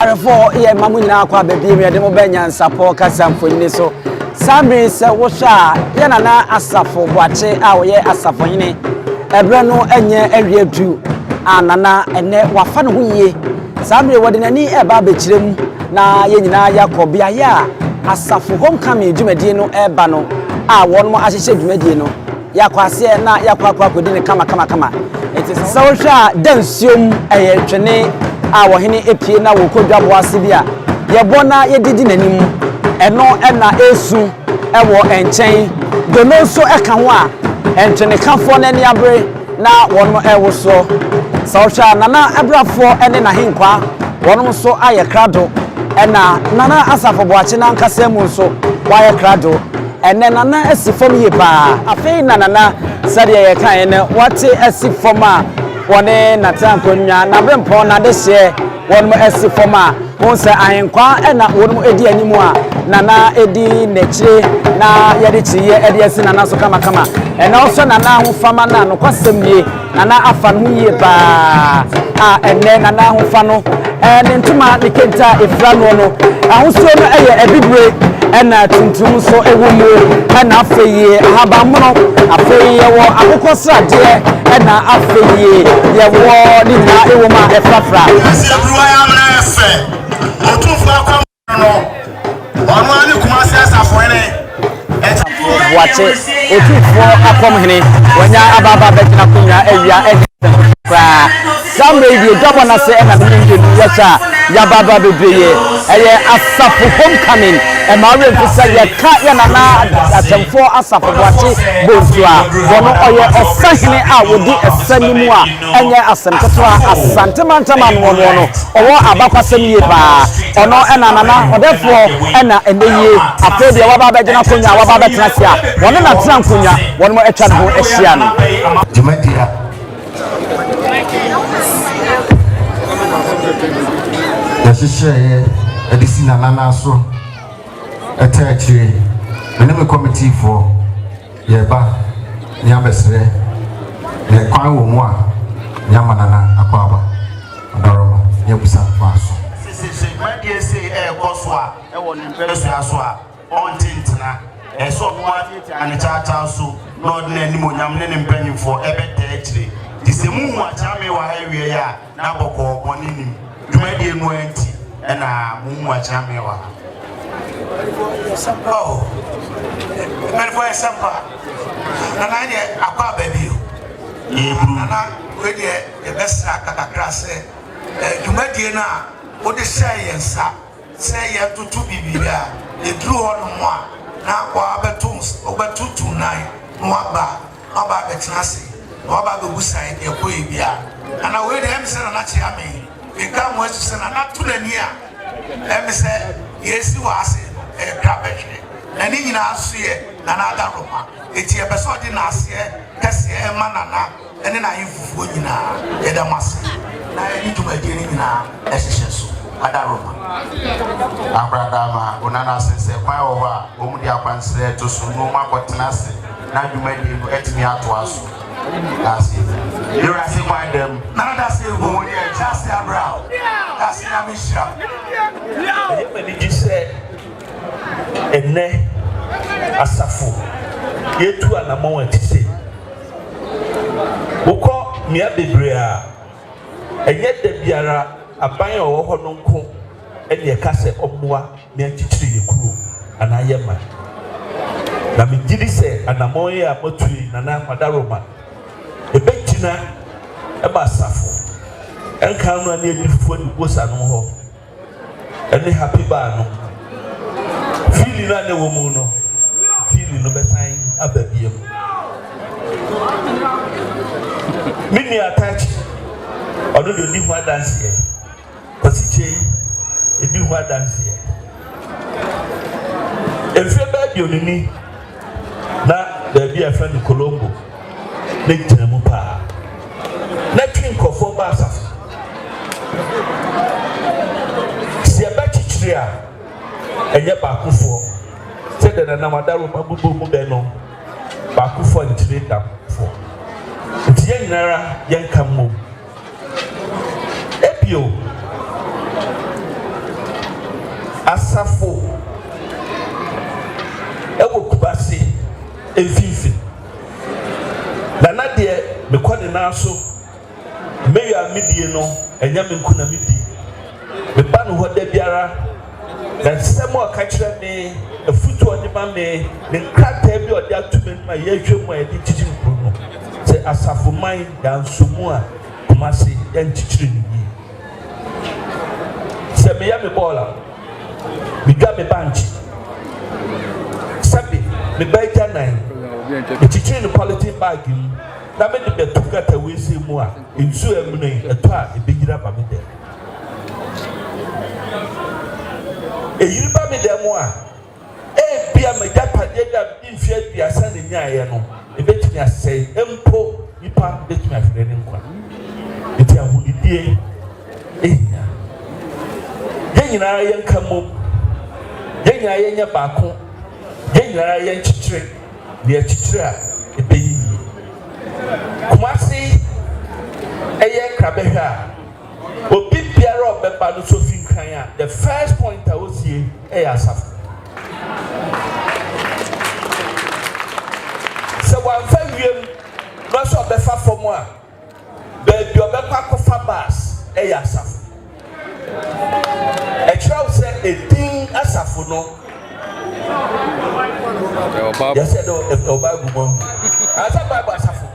Awarefo yɛ ma mo nyinaa akɔ aba bio mu yɛde mo bɛ nyansapɔ kasa mfonini so. Saa bere yi sɛ wohwɛ a, yɛ nana Asafo Boakye a ɔyɛ asafohene ɛberɛ no nyɛ awie du a nana ɛnɛ wafa ne ho yie. Saa bere wɔde n'ani ɛreba abɛkyerɛ mu na yɛn nyinaa yɛakɔ beaeɛ a asafo homecoming dwumadie no ɛreba no a wɔn ahyehyɛ dwumadie no. Yɛakɔ aseɛ na yɛakɔ akɔ akɔdi no kama kama kama. Nti sɛ sɛ wohwɛ a da nsuo mu ɛyɛ twene a ɔhene apue na wɔkɔ dwa boa ase bi a yɛbɔ na yɛde di n'anim. Ɛno na ɛresu wɔ nkyɛn. Dono nso ka ho a ntwenekafoɔ no ani abere na wɔn rewosoɔ. Sɛ wohwɛ a Nana Abrafoɔ ne n'ahenkwaa wɔnom nso ayɛ krado. Ɛna Nana Asafo Boakye n'ankasa mu nso wayɛ krado. Ɛnɛ Nana asi fam yie paa. Afei na Nana sɛdeɛ yɛkaeɛ no wate asi fam a wɔne no atena nkonnwa, n'aberempɔn, n'adehyeɛ, wɔnom asi fam a wohu sɛ ahenkwaa na wɔnom di anim a Nana di n'akyire na yɛde kyiniiɛ de asi Nana so kamakama. Ɛnɛ wohwɛ Nana ahofama no a nokwasɛm nie Nana afa no ho yie paa a ɛnnɛ Nana ahofa no ne ntoma ne kente a ɛfira noɔ no ahosuo no yɛ abibire ɛna tuntum nso wɔ mu ɛna afei ahabanmono afei yɛwɔ akokɔ sradeɛ ɛna afei yɛwɔ ne nyinaa ɛwɔ mu a ɛfrafra. Boakye, Otumfoɔ Akɔm Hene, wanya aba aba abɛgyina akonnwa awia ɛnyɛ nsɛm koraa. Saa mmerɛ yi deɛ dwabɔ no ase ɛna mene mmienu yɛhyɛ a yɛaba aba bebree. Ɛyɛ asafo homecoming. Ɛma awerɛ mfi sɛ yɛka yɛ nana atɛmfoɔ asafo Boakye Bonsu a wɔn ɔyɛ ɔsahene a wɔdi ɛsɛ no mu a Ɛnyɛ asɛm ketewa, Asante mantam anoɔnoɔ no ɔwɔ abakwasɛm yie paa, ɔno na Nana Ɔdɛfoɔ na ɛnnɛ yie afei deɛ waba abɛgyina akonnwa a waba abɛtena ase a wɔne no atena nkonnwa, wɔn atwa ne ho ahyia no. Dwumadie a. Yɛhyehyɛeɛ de si Nana nan so, ɛtaa akyire, me ne me kɔmitiifoɔ. Yɛba, ne abɛsrɛ, ne kwan wɔ mu a, ne ama Nana Akwaaba Abaroma, ne abusa no kwan so. Sisi sɛ dwumadie sei ɛɛkɔ so a ɛwɔ ne mpɛsua so a, ɔnte ntena. Ɛsɛ sɛ ɔno ara tiatia ne kyaakyaa so na ɔde n'animuonyam ne ne mpaninfoɔ ɛbɛtaa akyire. Nti sɛ mo hu Akyea Mewa awie a, Na bɔkɔɔ bɔne nnim. Dwumadie no ara nti na mo mu akyena me wɔ ha. Oh, mpanimfoɔ yɛ sɛmpa. Nana yɛ aba aba bi o. Yɛburu. Nana wei deɛ yɛbɛsra kakakra sɛ eh, dwumadie no a wode hyɛɛ yɛn nsa sɛ yɛntoto biribi a yɛduru hɔ nom a na wabɛto wobɛtoto nan na waba Ɔaba abɛtena ase, na waba abɛbusae deɛ ɛkɔeɛ biara. Nana wei deɛ, ɛmesɛ Nana kyea me, meka mo asu sɛ Nana to n'ani a, ɛmesɛ deɛ asi wɔ ha sei no, ɛyɛ krabɛhwɛ, na ne nyinaa nso yɛ Nana adaworoma. Enti yɛpɛsɛ ɔde naaseɛ kɛseɛ ɛma Nana ne n'ahemfofoɔ nyinaa. Yɛda mo ase, na yɛde dwumadie no nyinaa ɛhyehyɛ so. Adaworoma. Abradaama, Onana se sɛ kwan wɔ hɔ a, wɔn de akwansrɛ to so na wɔn akɔtena ase na dwumadie no atumi atoa so Dase Dewurase kwan dam na dase egu wɔn yɛ Dase abra Dase nyame hyira Ɛyɛ m'anigye sɛ ɛnɛ asafo yɛtu anamɔn ati se wokɔ mmea bebree a ɛnyɛ da biara aban a ɔwɔ hɔ no nko Ɛnneɛ ka sɛ ɔmmoa me nkyekyere yɛn kuro anaa yɛn man. Na megye di sɛ anammɔn yi a moatu yi, Nana Madaroma, ɛbɛgyina ma asafo nkan no ne adidifoɔ adiwosa no hɔ ne Happy Bar no. Fiili no a na ɛwɔ mu no, fiili no bɛsan aba biom. Me nua Atachi, ɔno deɛ ɔdi ho adanseɛ. Ɔsikye, di ho adanseɛ. Mfeɛ bɛyɛ aduonu ni na baabi a ɛfrɛ no Colombo ne gyina mu paa. Na twi nkurɔfoɔ ba asafo. Sɛ yɛbɛkyekyere a, ɛnyɛ baakofoɔ. Sɛdeɛ Nana Wadaroma bobɔ mu bɛ no, baakofoɔ nkyere dafoɔ. Nti yɛn nyinara yɛnka mmom. Bio, asafo wɔ Kumasi mfinfini, na na deɛ mekɔ ne nan so, mɛwie a medie no, ɛnyɛ me nko na medi. Meba ne hɔ da biara, na nsɛm a ɔka kyerɛ me, afotu a ɔde ma me, ne nkrataa bi a ɔde ato m'anim a yɛhwɛ mu a yɛde kyekyere kurow no. Sɛ Asafoman da nso mu a, Kumasi, yɛnkyekyere no yie. Sɛ meyɛ me bɔɔl a, midwa me bankye. Sɛbe, me ba agyanan, mekyekyere no polythene bag mu na mede bɛto gutter wesee mu a, nsu a amuna yi, ɛtɔ a, ebeyiri aba me dan mu. Eyiri ba me dan mu a, ebia m'agyapadeɛ bi a mede mfeɛ aduasa na nyaeɛ no, ɛbɛtumi asɛe. Mpo nipa bɛtumi ahwere ne nkwa. Eti ahonidie ehia. Yɛn nyinaa yɛnka mmom. Yɛn nyinaa yɛnyɛ baako. Yɛn nyinaa yɛnkyekyere na yɛkyekyere a ɛbɛyɛ yie. Kumasi ɛyɛ krabɛhwɛ a. Obi biara a ɔbɛba no so fi nkran a, the first point a osie yɛ asafo. Sɛ wamfa wiem na ɔsɛ ɔbɛfa fam a, baabi a ɔbɛkɔ akɔfa bus yɛ asafo. Ɛkyerɛ wo sɛ edin asafo no yɛsɛ dɛ ɛwɔ Bible mu ahu. Ansa Bible asafo.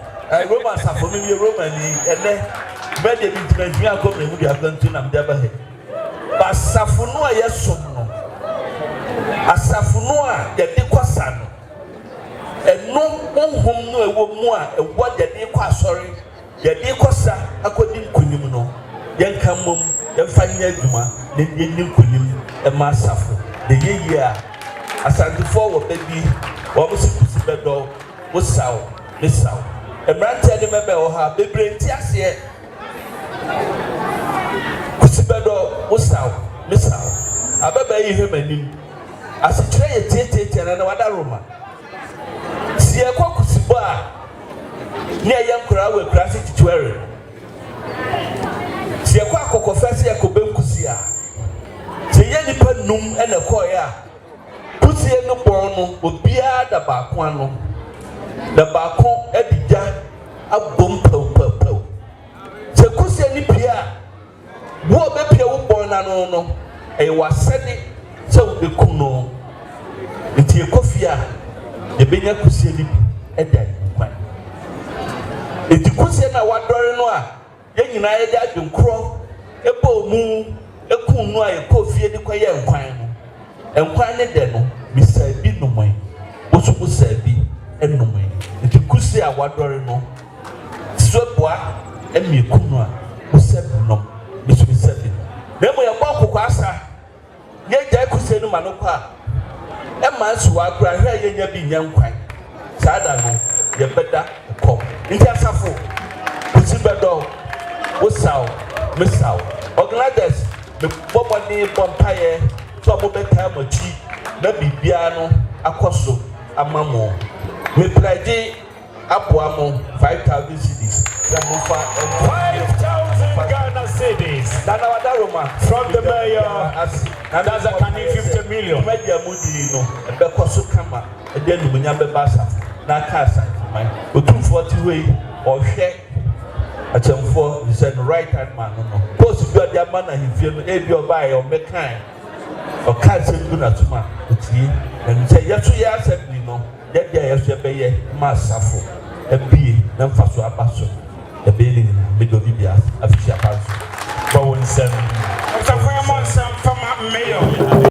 Roma asafo no yɛ Romani ɛnɛ bɛ deɛ mentimi anhwia ankɔ mmerɛ mu de akwantuo na mede aba ha yi ba asafo no a yɛsom no asafo no a yɛde kɔ sa no ɛno honhom no a ɛwɔ mu a ɛwɔ yɛde kɔ asɔre yɛde kɔ sa akɔdi nkonim no yɛnka mmom yɛmfa nyɛ adwuma na yɛdi nkonim ɛma asafo na yɛyie a asantefoɔ wɔ bɛ bi wɔn si kusi bɛdɔw Wo saw me saw. Mberantsɛ ne mbabaa wɔ ha bebree nntse aseɛ. Kwesi Bɛdɔ wo saw me saw. Ababaa yi hwɛm anim. Asekyerɛ yɛ tiatiatia na na wada roma. Se yɛkɔ Kwesi bɔ a ne yɛyɛ nkoraa wɔ ekuraase Titwɛre. Se yɛkɔ Akɔkɔfɛ se yɛkɔ Benkusi a. Se yɛyɛ nipa num na ɛkɔɔɛ a Kosua no bɔn no obiara da baako ano na baako adi dwa abom pɛwpɛwpɛw. Sɛ kosua no pue a, boa a obepue wo bɔn no ano no, ɛyɛ w'asɛde sɛ wubekum no. Enti yɛkɔ fie a, yebenya kosua no bi de ayi no kwan. Enti kosua no a wɔadɔre no a, Yɛn nyinaa yɛde adwene korɔ bɔɔ mu kuu no a yɛkɔɔ fie de kɔyɛɛ nkwan no. Nkwan no dɛ no, mesaa bi nomee, wo nso wosaa bi nomee. Enti kuse a wɔadɔre no, sɛ boa mmiako no a, wosa bi nom, me nso mesa bi nom. Na mmom yɛbɔɔ kokoasa Yegyae kosua no ma no kɔ a, ɛmma nsow a koraa hwɛ a yenya bi nyɛ nkwan. Saa da no, yɛbɛda kɔm. Enti asafo, Kwesi bɛdɔ wo, wosaw, mesaw. Organizers, mebɔ mmɔden bɔ mpaeɛ sɛ wɔbɛtaa mo akyi na biribiara no akɔ so ama mo. Me pledge. Aboa mo five thousand cedis sɛ mo nfa nto adeɛ so. Five thousand Ghana cedis na na wada Roma from the mayor na ne bɔ mpaeɛ sɛ dwumadi a mo di no ɛbɛkɔ so kama ɛde animuonyam bɛba asafo no aka asante man otumfoɔ te hɔ yi ɔhwɛ akyɛmfoɔ ne sɛ no right hand man no no post bi ɔde ama no ahemfie no ebi ɔbaeɛ ɔmmɛkae ɔka asɛm gu n'asom a otie na nim sɛ yɛ so yɛ asɛm bi no. Dɛn deɛ yɛ so ɛbɛyɛ ma asafo abue na mfaso aba so ɛbɛyɛ ne nyinaa medɔ ne bia afisi aba nso bɔ wo nsɛm Asafo yɛ mɔ nsɛm mfa ma mayor.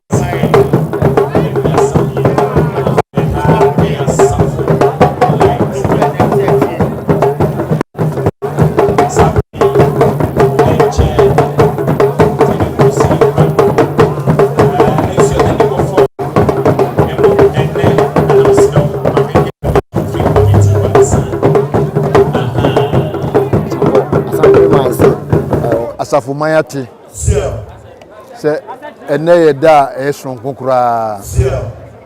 asafo man ate sɛ ɛnɛ yɛ da a ɛyɛ soronko koraa.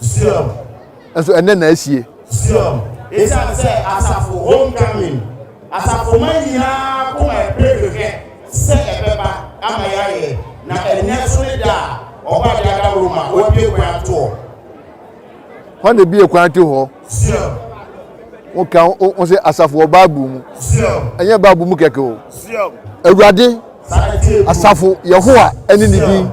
Siam. Nso ɛnnɛ na asie. Siam. Esiane sɛ asafo homecoming, asafomma nyinaa koma pere hwehwɛ sɛ ɛbɛba ama yɛayɛ, na ɛnnɛ nso ne da a Ɔba de ada wɔ mu a wɔabue kwan ato hɔ. Hwan na ebue kwan ato hɔ? Siam. Woka wo ho sɛ asafo wɔ Bible mu. Siam. Ɛnyɛ Bible mu kɛkɛ o. Siam. Awurade, Saa na ɛteɛ bio. asafo Yehowa ne ne din. Siam.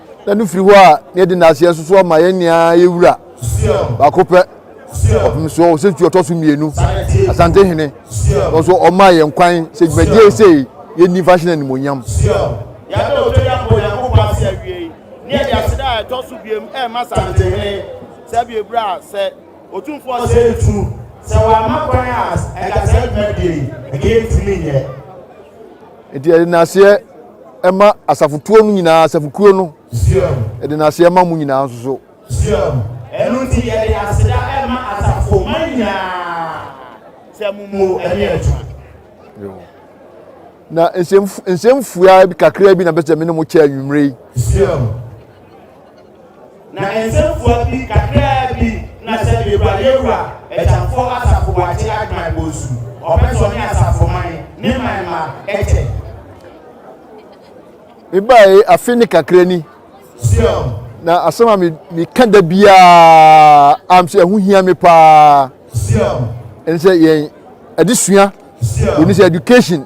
na no firi hɔ a na yɛde n'aseɛ nso so ama yɛn nyinaa yɛ wura baako pɛ ɔpem soɔ ɔsɛntu ɔtɔ so mmienu asante hene nso ɔma yɛn kwan sɛ dwumadie sei yɛnni mfa hyena animonyam yɛde ɔtɔ yɛ abɔ nyankopɔn ase awiei ne yɛde aseda a ɛtɔ so biam ɛma asante hene sɛ biebrɛ a sɛ ɔtumfoɔ sɛ ntu sɛ wɔama kwan a ɛka sɛ dwumadie ɛkɛntumi nyɛ nti yɛde n'aseɛ Ɛma asafotuo no nyinaa, asafokuo no, de n'aseɛ ma mo nyinaa nso so. Ɛno nti yɛde aseda ma asafomma nyinaa sɛ mo mu ɛne adwuma. Na nsɛm nsɛm fua kakraa bi na bɛsɛ me ne mo kyɛ anwummere yi. Na nsɛmfua bi kakraa bi na sɛdeɛ Awurade Awura Agyamfoɔ Asafo Boakye Agyman Bonsu ɔpɛ sɛ ɔne Asafoman ne man mma kyɛ. Mebaeɛ afe ne kakra ni. Sion. Na asɛm a me meka da biara am sɛ ɛho hia me paa. Sion. Ɛne sɛ yɛn adesua. Sion. Ɛne sɛ education.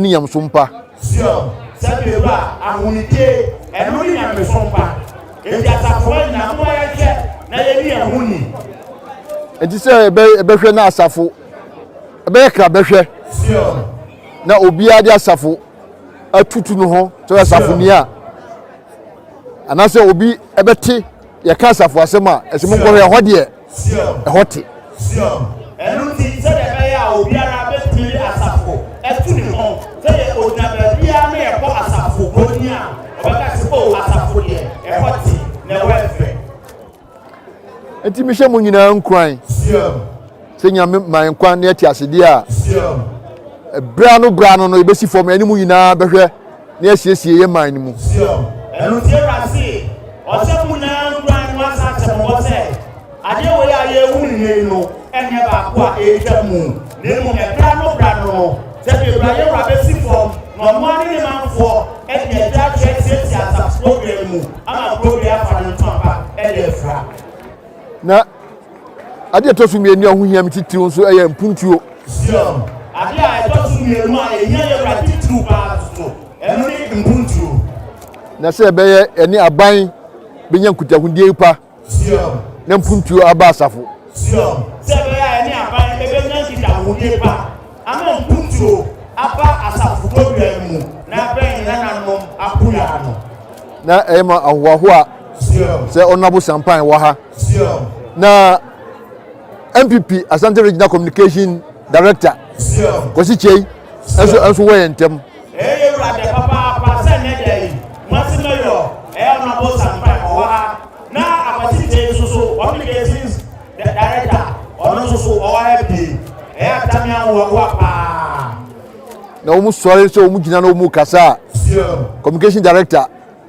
ne nyamesom pa. Sion, sɛ mewura, ahonyidie, ɛno ne nyamesom pa. Enti asafo hɔ nyinaa, momma yɛnhwɛ na yɛnni yɛn ho ni. Enti sɛ ɛbɛhwɛ na asafo ɛbɛyɛ kra bɛhwɛ. Sion. Na obiara de asafo atutu no ho sɛ asafo ni a, anaasɛ obi ɛbɛte. Yɛka asafo asɛm a, ɛsɛ monkɔhwɛ ɛhɔ deɛ ɛhɔ te. Ɛno nti, sɛdeɛ ɛbɛyɛ a obiara bɛtumi de asafo atu ne ho, sɛdeɛ ɔgyina baabiara na yɛbɔ asafo honi a, ɔbɛka sɛ, O, asafo deɛ ɛhɔ te, na ɛhɔ yɛ fɛ. Enti mehyɛ mo nyinaa nkuran sɛ Nyame ma yɛn kwan na yɛte asedeɛ a, berɛ ano berɛ ano no, yɛbɛsi fam, ɛne mo nyinaa bɛhwɛ. na yɛasiesie yɛn man no mu. Sio, ɛno nti Awurade se, Ɔsɛ mo nyinaa nkura ne mo asansɛm mmɔ sɛ, adeɛ wei a yɛrehu no nnɛ yi no nyɛ baako a ɛretwa mu, na mmom ɛbra no bra no no, sɛdeɛ Awurade wura bɛsi fam na ɔno ara ne ne manfoɔ de agya akyɛ tiatia asafo kurodua no mu ama kurodua afa no ntoma pa de afira. Na Ade a ɛtɔ so mmienu a ɛho hia me titiriw nso yɛ mpuntuo. Zion. Ade a ɛtɔ so mmienu a ɛhia yɛn wura titiriw paa nso, ɛno ne mpuntuo. Na sɛ ɛbɛyɛ yɛne aban bɛnya nkutahodie pa. Zion. Na mpuntuo aba asafo. Zion. Sɛ ɛbɛyɛ a yɛne aban bɛnya nkitahodie pa ama mpuntuo aba asafo bɔdua no mu na abɛn yɛn nananom akoyaa no. Na ɛyɛ ma ahohoahoa sɛ ɔno abosampan wɔ ha. na npp asante regional communication director kwasi kyei nso nso wɔ yɛn ntɛm. ɛyɛ wurade papaapa sɛ nnɛ da yi masi mɛyɔ ɛyɛ ɔno abo sampa ɔwɔ ha na akwasi kyei nso so communications director ɔno nso so ɔwɔ ha bi ɛyɛ atami ahoɔhoa paa. na wɔn sɔre sɛ wɔn gyina na wɔn kasa communication director.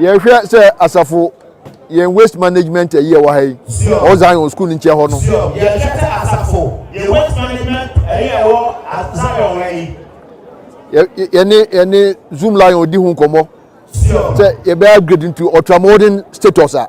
yɛhwɛ sɛ asafo yɛn waste management ayi ɛwɔ ha yi ɔwɔ zion school nkyɛn hɔ no. yɛhwɛ sɛ asafo yɛn waste management ayi ɛwɔ zion ha yi. yɛne yɛne zoom lion di ho nkɔmɔ sɛ yɛbɛyɛ upgrade nti ɔtramɔden status a.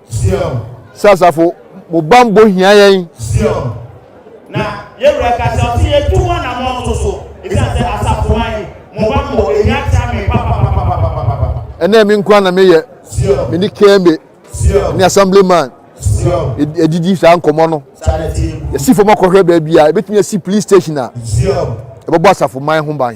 Sɛ asafo, mo bammɔ hia yɛn. Na yɛn wura ka sɛ ɔte yɛn tu ho anamɔ nso so. Ɛsiane sɛ asafo ma yɛn, mo bammɔ ɛhia tia me papapapapapapa. Ɛnɛ me nkoa na meyɛ, me ne Kembe ne Assemblyman ɛdidi saa nkɔmmɔ no. Yɛsi fam akɔhwɛ baabi a ɛbɛtumi asi police station a ɛbɛbɔ asafo man ho ban.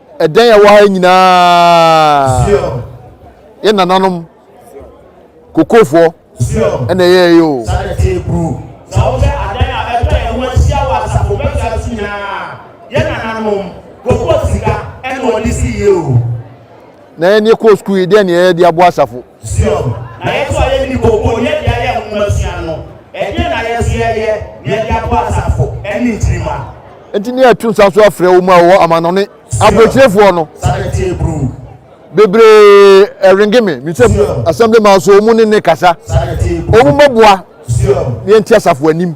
Ɛdɛn a ɛwɔ ha nyinaa yɛ nananom kokofoɔ ɛna ɛyɛ yɛ o. Sɛ wohwɛ adan a ɛtwa yɛn ho ahyia wɔ asafo bɛtwa so nyinaa yɛ nananom koko sika ɛna wɔde si yɛ o. Na yɛn yɛkɔɔ sukuu yi dɛn na yɛyɛ de aboa asafo? Sion, na yɛn nso a yɛnni kookoo ne adi a yɛn nwoma sua no, ɛdeɛn na yɛn nso yɛyɛ na yɛde aboa asafo ne nkyirimma? Enti ne yɛto nsa so afrɛ wɔn a wɔwɔ amannɔne aburokyerɛfoɔ no. Bebree ɛrenge me, me sɛ assembly man so wɔn ne ne kasa, wɔn mmɛboa ne yɛnte asafo anim.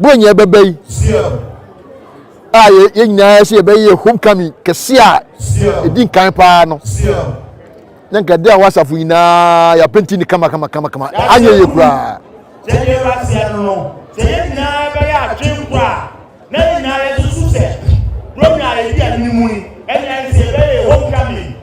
bɔ nyɛ bɛbɛ yi a yɛn nyinaa sɛ yɛbɛyɛ homecoming kɛse a ɛdi nkan paa no na nka de a wɔ asafo nyinaa yɛapenti ne kama kama kama kama anyɛ yɛ koraa sɛ yɛn nyinaa bɛyɛ adwene kɔ a na yɛn nyinaa yɛsusu sɛ burom na yɛdi anim mu ni ɛnna sɛ yɛbɛyɛ homecoming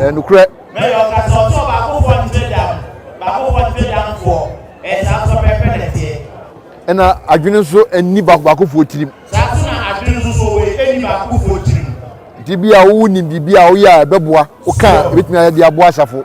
Ɛyɛ nokorɛ. Ɛna adwene nso nni baako baakofoɔ tirim. Nti bi a wonim biribi a woyɛ a ɛbɛboa wo ka a ɛbɛtumi ayɛ de aboa asafo.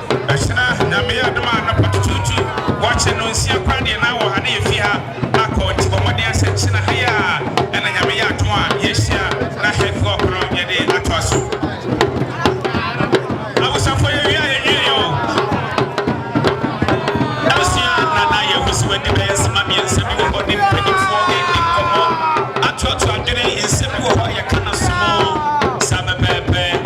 Ɛsena Nyame yɛ adom a anɔpa tutuutu wɔkye no nsia koraa deɛ na wɔ ha na yɛfi ha akɔ nti bɔ mmɔden asɛ kyena ha yi a ɛna Nyame yɛ adom a yɛahyia na heavy work no yɛde atoa so. Abusafo yɛwie a yɛnwieɛ o. Abusua Nana yɛahu sɛ wadi bɛyɛ nsema mmiɛnsa bi wɔ hɔ ne mpaninfoɔ ɛredi nkɔmmɔ atoatoa adwene nsɛm bi wɔ hɔ a yɛka no som o saa pɛpɛɛpɛ.